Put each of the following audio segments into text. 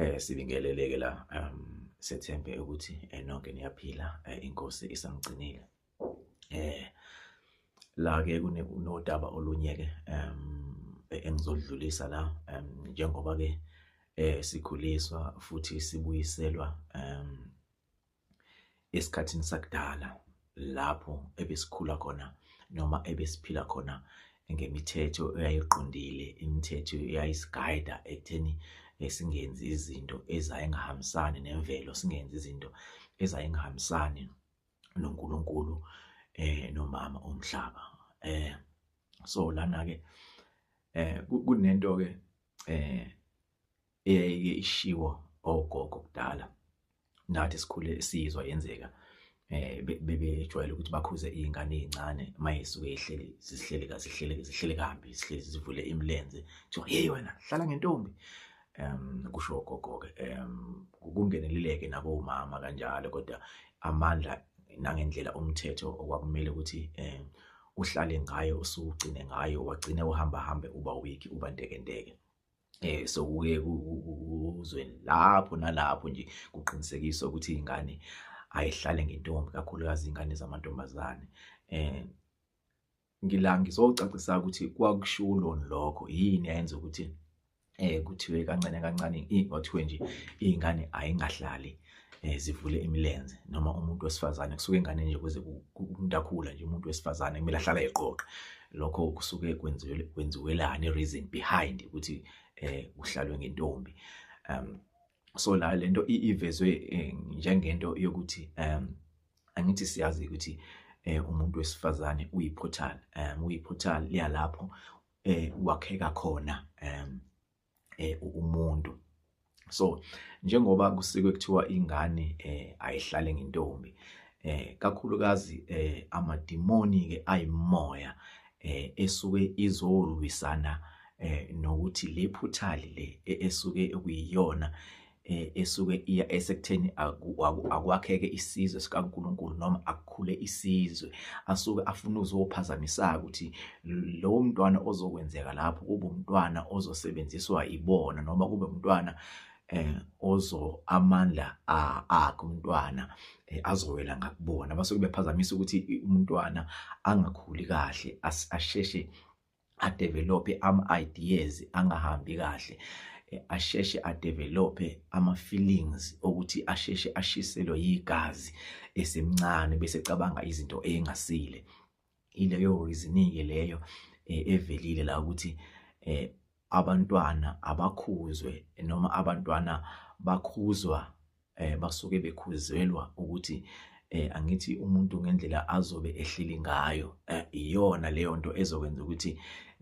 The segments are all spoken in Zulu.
Eh sibingeleleke la um sethembe ukuthi eh, nonke niyaphila eh, inkosi isamgcinile. Eh la ke kunodaba olunyeke um e-, engizodlulisa la um njengoba ke eh sikhuliswa futhi sibuyiselwa um esikhathini sakudala lapho ebesikhula khona noma ebesiphila khona ngemithetho eyayiqondile imithetho eyayisigayida ekutheni eh, singenzi izinto ezayengahambisani nemvelo singenzi izinto ezayengahambisani noNkulunkulu eh nomama umhlaba eh so lana ke eh kunento ke eh eyayike ishiwo ogogo kudala nathi sikhule sizwa yenzeka eh bebejwayele ukuthi bakhuze izingane ezincane mayisuke ihleli sihleli kazi sihleli sihleli kambi sihleli sivule imilenze kuthiwa hey wena hlala ngentombi em kusho gogo ke em kungeneleleke nabo umama kanjalo kodwa amandla nangendlela umthetho okwakumele ukuthi eh uhlale ngayo usugcine ngayo wagcine uhamba hambe uba week uba ntekenteke eh so kuye kuzweni lapho nalapho nje kuqinisekiswa ukuthi ingane ayihlale ngentombi kakhulukazi ingane zamantombazane eh ngila ngizocacisa ukuthi kwakushulo lokho yini ayenza ukuthi eh kuthiwe kancane kancane ingothiwe nje ingane ayingahlali eh zivule imilenze noma umuntu wesifazane kusuke ingane nje kuze kumntakhula nje umuntu wesifazane kumele ahlala eqoqa lokho kusuke kwenziwe kwenziwelani reason behind ukuthi eh uhlalwe ngentombi um so la lento ivezwe eh, njengento yokuthi um angithi siyazi ukuthi eh umuntu wesifazane uyiportal um uyiportal liyalapho eh wakheka khona um eh umuntu so njengoba kusikwe kuthiwa ingane eh ayihlale ngentombi eh kakhulukazi eh amadimoni ke ayimoya eh esuke izolwisana eh nokuthi le phuthali le e, esuke kuyiyona eh, esuke iya esekutheni akwakheke isizwe sikaNkuluNkulu noma akukhule isizwe asuke afuna uzophazamisaka ukuthi lowo mntwana ozokwenzeka lapho kube umntwana ozosebenziswa ibona noma kube umntwana eh ozo amandla akhe umntwana eh, azowela ngakubona basuke bephazamisa ukuthi umntwana angakhuli kahle asheshe adevelophe ama-ideas angahambi kahle eh, asheshe adevelophe ama-feelings okuthi asheshe ashiselwe yigazi esemncane bese cabanga izinto engasile ileyo reasoning-ke leyo eh, evelile la ukuthi um abantwana abakhuzwe noma abantwana bakhuzwa eh basuke bekhuzelwa ukuthi eh angithi umuntu ngendlela azobe ehleli ngayo eh, iyona leyo nto ezokwenza ukuthi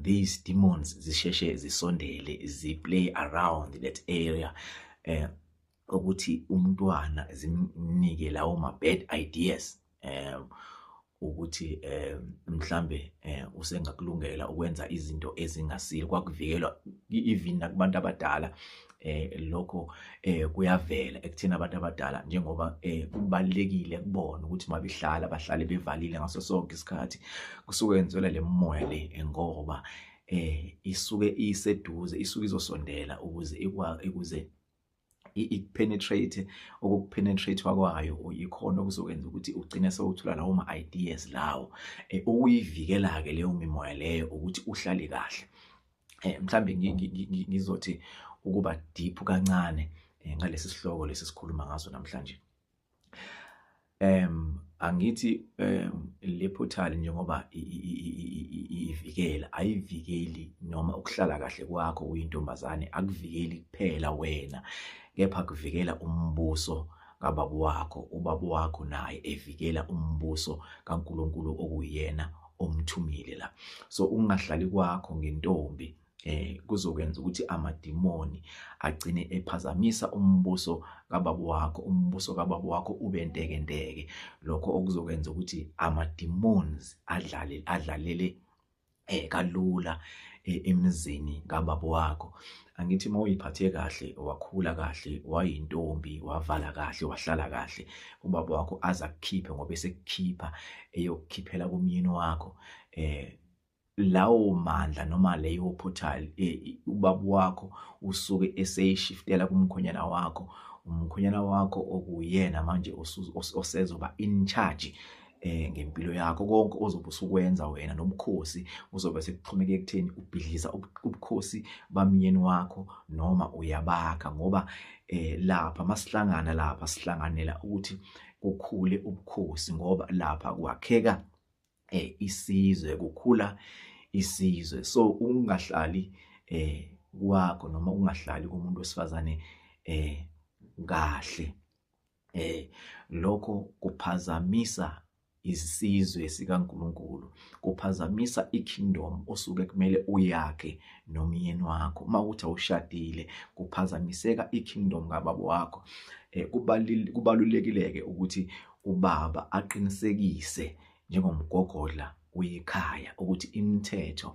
these demons zisheshe zisondele zi play around that area eh ukuthi umntwana zimnike lawo ma bad ideas um ukuthi um mhlambe um usengakulungela ukwenza izinto ezingasile kwakuvikelwa even nakubantu abadala eh lokho eh kuyavela ekuthina abantu abadala njengoba eh kubalekile kubona ukuthi mabehlala bahlale bevalile ngaso sonke isikhathi kusuke yenzelwa lemoya le ngoba eh isuke iseduze isuke izosondela ukuze ikwa ukuze ikupenetrate okukupenetrate kwayo yikhona okuzokwenza ukuthi ugcine sewuthola lawo ma ideas lawo eh, ukuyivikela ke leyo mimoya leyo ukuthi uhlale kahle eh, mhlambe ngizothi ukuba deep kancane eh, ngalesi sihloko lesi sikhuluma ngaso namhlanje em angithi le portal njengoba ivikela ayivikeli noma ukuhlala kahle kwakho uyintombazane akuvikeli kuphela wena kepha kuvikela umbuso kababa wakho ubaba wakho naye evikela umbuso kaNkuluNkulu okuyena omthumile la so ungahlali kwakho ngentombi eh kuzokwenza ukuthi amadimoni agcine ephazamisa umbuso kababa wakho umbuso kababa wakho ube ntekenteke lokho okuzokwenza ukuthi ama demons adlale adlalele eh kalula eh, emizini kababa wakho angithi mawuyiphathe kahle wakhula kahle wayintombi wavala kahle wahlala kahle ubaba wakho azakukhiphe ngoba esekukhipha eyokukhiphela kumyeni wakho eh lawo mandla noma leyo portal e, ubaba wakho usuke eseyishiftela kumkhonyana wakho umkhonyana wakho okuyena manje osezoba in charge eh ngempilo yakho konke ozobe usukwenza wena nobukhosi uzobe sekuxhomeke ekutheni ubhidliza ubukhosi bamyeni wakho noma uyabakha ngoba eh lapha masihlangana lapha sihlanganela ukuthi kukhule ubukhosi ngoba lapha kwakheka eh isizwe kukhula isizwe so ungahlali eh kwakho noma ungahlali komuntu wesifazane eh kahle eh lokho kuphazamisa isizwe sikaNkuluNkulu kuphazamisa ikingdom osuke kumele uyakhe nomyeni wakho uma uthi awushadile kuphazamiseka ikingdom kababa wakho eh kubalulekile ke ukuthi kubaba aqinisekise njengomgogodla wekhaya ukuthi imithetho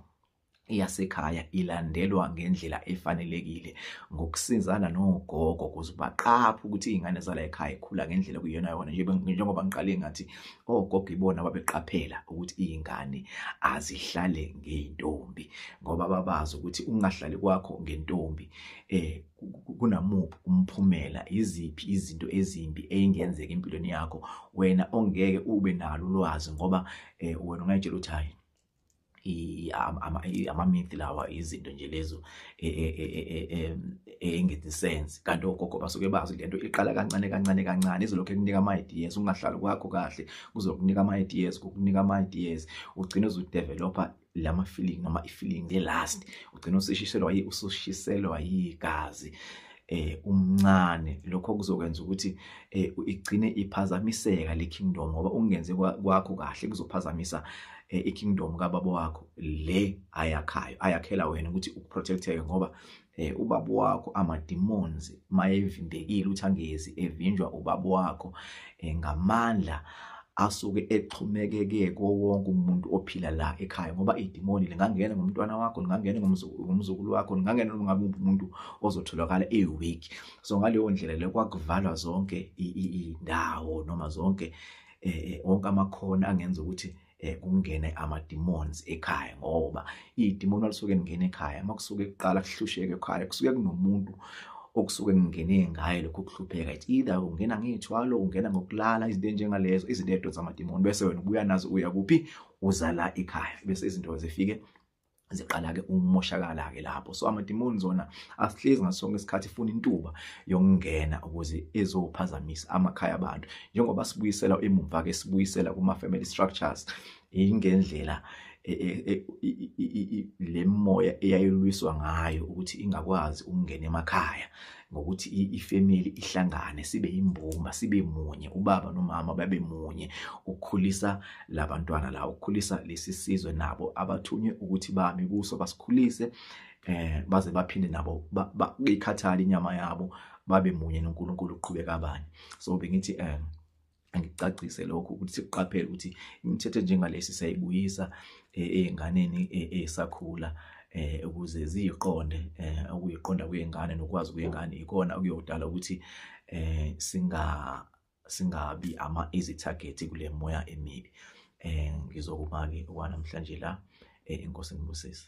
yasekhaya ilandelwa ngendlela efanelekile ngokusizana nogogo ukuze baqaphe ukuthi izingane zala ekhaya ikhula ngendlela kuyona yona njengoba ngiqale ngathi ogogo ibona babeqaphela ukuthi izingane azihlale ngeentombi ngoba babazi ukuthi ungahlali kwakho ngentombi eh kunamuphi umphumela iziphi izinto ezimbi eyingenzeka empilweni yakho wena ongeke ube nalo ulwazi ngoba eh, wena ungayitshela ukuthi hayi amamithi lawa izinto nje lezo e, e, e, engenzi sense kanti ogogo basuke bazi lento iqala kancane kancane kancane izolokhu ekunika ama-ideas ungahlali kwakho kahle kuzokunika ama-ideas kukunika ama-ideas ugcine uzudevelopha lama feeling noma i feeling le last ugcina usishiselwa yi usushiselwa yigazi eh umncane lokho kuzokwenza ukuthi eh igcine iphazamiseka le kingdom ngoba ungenze kwakho kahle kuzophazamisa eh, i kingdom kababa wakho le ayakhayo ayakhela wena ukuthi ukuprotecteke ngoba eh ubaba wakho amademons mayevimbekile uthi angezi evinjwa ubaba wakho eh, ngamandla asuke exhumekeke kowonke umuntu ophila la ekhaya ngoba idimoni lingangena ngomntwana wakho lingangena ngomzukulu wakho lingangena noma ngabe umuntu ozotholakala eweak so ngaleyo ndlela le kwakuvalwa zonke indawo noma zonke eh, eh onke amakhona angenza ukuthi eh kungene ama demons ekhaya ngoba idemon alisuke lingena ekhaya makusuke kuqala kuhlusheke ekhaya kusuke kunomuntu okusuke kungene ngaye lokho kuhlupheka it's either ungena ngethwalo ungena ngokulala izinto enjengalezo izinto edo zamademoni bese wena ubuya nazo uya kuphi uzala ekhaya bese izinto zifike ziqala-ke ukumoshakala-ke lapho so amadimoni zona asihlezi ngaso sonke isikhathi funa intuba yokungena ukuze ezophazamisa amakhaya abantu njengoba sibuyisela emumva-ke sibuyisela kuma-family structures ingendlela e, e, e, le moya eyayilwiswa ngayo ukuthi ingakwazi ukungena emakhaya ngokuthi ifamily ihlangane sibe imbumba sibe munye ubaba nomama babe munye ukukhulisa labantwana la ukukhulisa lesi sizwe nabo abathunywe ukuthi bami kuso basikhulise eh baze baphinde nabo bayikhathala inyama yabo babe munye noNkulunkulu uqhubeka abanye so bengithi eh angicacise lokho ukuthi sikuqaphele ukuthi imithetho njengalesi sayibuyisa eh, ezinganeni eh, esakhula eh ukuze ziyiqonde eh ukuyiqonda kwengane nokwazi kwengane ikona okuyodala ukuthi eh singa singabi ama easy target kule moya emibi eh ngizokuma ke kwanamhlanje la eh inkosi ngibusisa